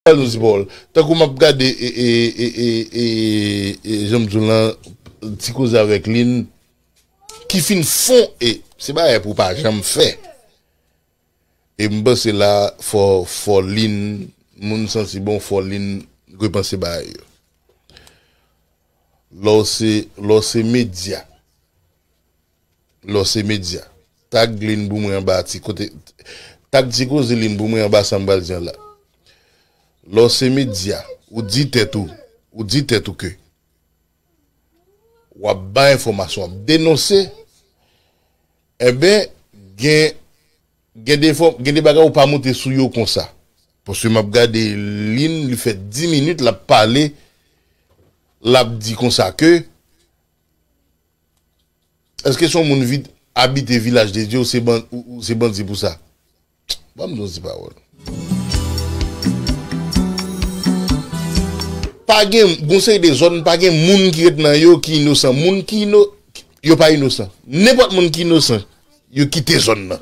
Anus ball. Tankou map gade janm diw lan ti koze avèk lynn ki fin fon e se bagay pou pa janm fè e m panse la fò fò lynn moun santi bon fò lynn repanse bagay yo lè w se lè w se medya. lò se medya. Tag linn pou mwen anba ti kote Tag ti koze linn pou mwen anba sa m pral di an la Lò se medya, ou di tèt ou ou di tèt ou ke w ap bay enfòmasyon, w ap denonse enben gen gen de fò gen de bagay ou pa monte sou yo konsa. Paske m ap gade linn li fè 10 minit l ap pale l ap di konsa ke Eske son moun vit abite vilaj de Dye ou se bandi pou sa? Ban m di yon ti pawòl. Pa gen, gon seri de zòn pa gen moun ki ret nan yo ki inosan. Moun ki ino, yo pa inosan. Nenpòt moun ki inosan, yo kite zòn nan.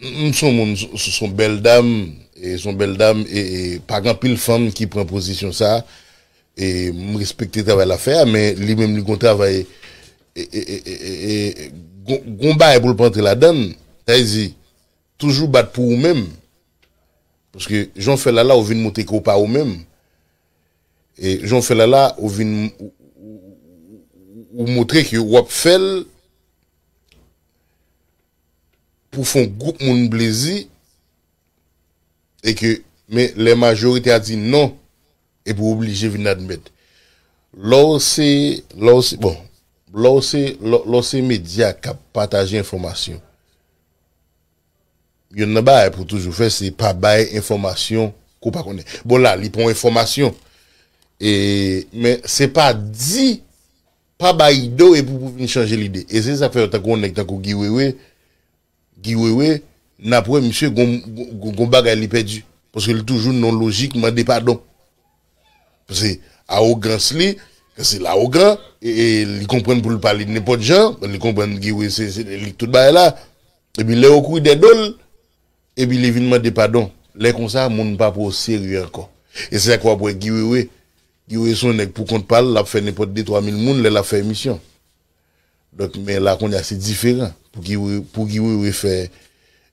M son moun son bèl dam e son bèl dam e pa gen anpil fanm ki pran pozisyon sa e m respekte travay lap fè a men li menm li gon travay e gon bagay pou l pa antre ladann sa vle di toujou bat pou ou menm paske jan w fè lala ou vin montre ke w pa ou menm e jan w fè lala ou vin ou montre ke wap fè l. pou fon gwoup moun plezi e ke men lè majorite a di non epi w oblije vin admèt lè w se lè w se bon lè w se lè w se medya k ap pataje enfòmasyon youn nan bagay pou w toujou fè se pa bay enfòmasyon ke w pa konnen bon la li pa yon enfòmasyon e men se pa di Pa bay do epi pou vin chanje lide. E se sak fè tankou yon nèg tankou Guy Wewe, Guy Wewe, nap wè misye gon gon bagay li pèdi. Paske li toujou nan yon lojik mande padon. Paske awogans li, paske l awogan, e li konprann pou l pale nenpòt jan, li konprann Guy Wewe se se li k tout bagay la. Epi lè yo kouri dè do l, epi li vin mande padon. Lè konsa moun pa pran w serye ankò. E se sak fè wap wè Guy Wewe Guy Wewe son nèg pou kont pal lap fè nenpòt de twa mil moun lè lap fè emisyon donk men la kounye a se diferan pou Guy Wewe pou Guy Wewe fè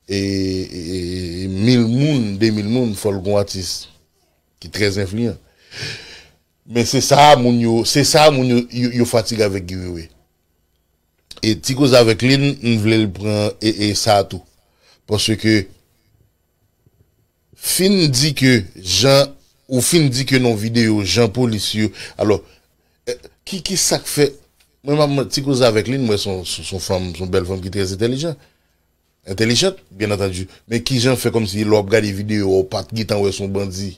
mil moun de mil moun fòl gon atis ki trè enfliyan men se sa moun yo se sa moun yo yo fatige avèk Guy Wewe e ti koze avèk li m vlel pran e sa tou paske Fin di ke jan ou fin di ke nan video jan polis yo alò ki ki sak fè mwen map mwen ti koze avèk li mwen son son fanm son bèl fanm ki trè entèlijan entèlijant byen antandi men kijan fè kòm si lè wap gade video a ou pat gentan wè son bandi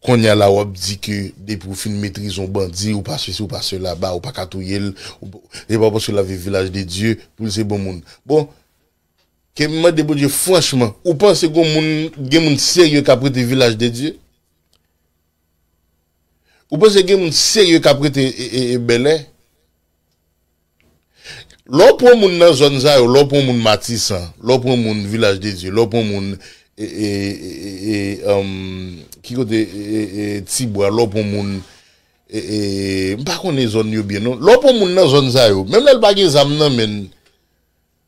konnya la wap di ke depi ou fin metrize yon bandi ou pa sesi ou pa sela ba ou paka touyel ou se pa paske lap viv vilaj de dye poul se bon moun bon Ke m mande Bondye franchman, ou panse gon moun, gen moun serye kap rete vilaj de Dye? Ou panse gen moun serye kap rete Bèlè? Lè w pran moun nan zòn sa yo, lè w pran moun Matisan, lè w pran moun vilaj de Dye, lè w pran moun ki kote Tibwa, lè w pran moun, m pa konnen zòn yo byen non, lè w pran moun nan zòn sa yo, menm lè l pa gen zam nan men l,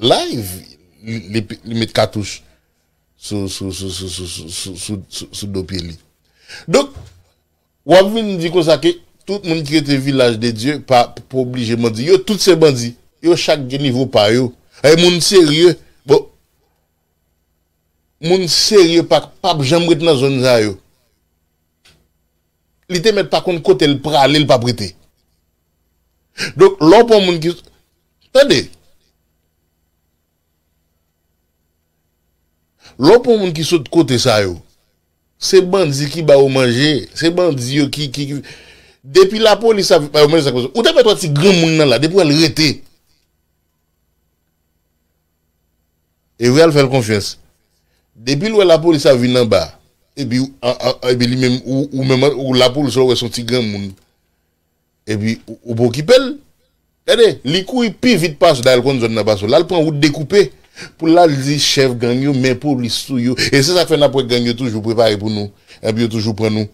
Live li met katouch sou do pye li. Donk wap vin di konsa ke tout moun ki rete vilaj de Dye pa oblije bandi. Yo tout se bandi. Yo chak gen nivo pa yo. E moun serye, bon moun serye pa pap janm ret nan zòn sa yo. Li te mèt pa konn kote l prale l pap rete. Donk lè w pran moun ki. Tande! Lè w pran moun ki sot kote sa yo, se bandi ki ba yo manje, se bandi yo ki ki. Depi lapolis ap ba yo manje sa k pase. Ou ta mèt wè ti granmoun nan la depi w wè l rete. Ewi al fèl konfyans. Depil wè lapolis ap vin anba epi epi li menm ou menm ou lapolis ou wè son ti granmoun epi ou pa okipel gade li kouri pi vit pasw dayèl konn zòn nan pasw lal pran wout dekoupe poul al di chèf gang yo men polis sou yo e se sak fè nap wè gang yo toujou prepare pou nou epi yo toujou pran nou.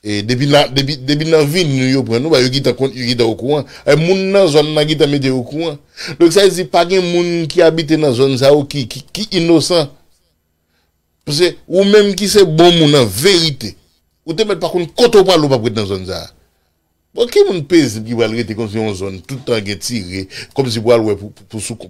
Depi na depi nan vil nou yo pran nou ba yo gitan kont yo gitan okouran e moun nan zòn nan gitan mete yo okouran donk sa vle di pa gen moun ki abite nan zòn sa yo ki ki inosan pase ou menm ki se bon moun an verite ou te mèt pa konn kote ou prale ou pap ret nan zòn sa bon ki moun pezib ki pral rete konsi yon zòn tout tan gen tire kòmsi pou al wè pou pou sou.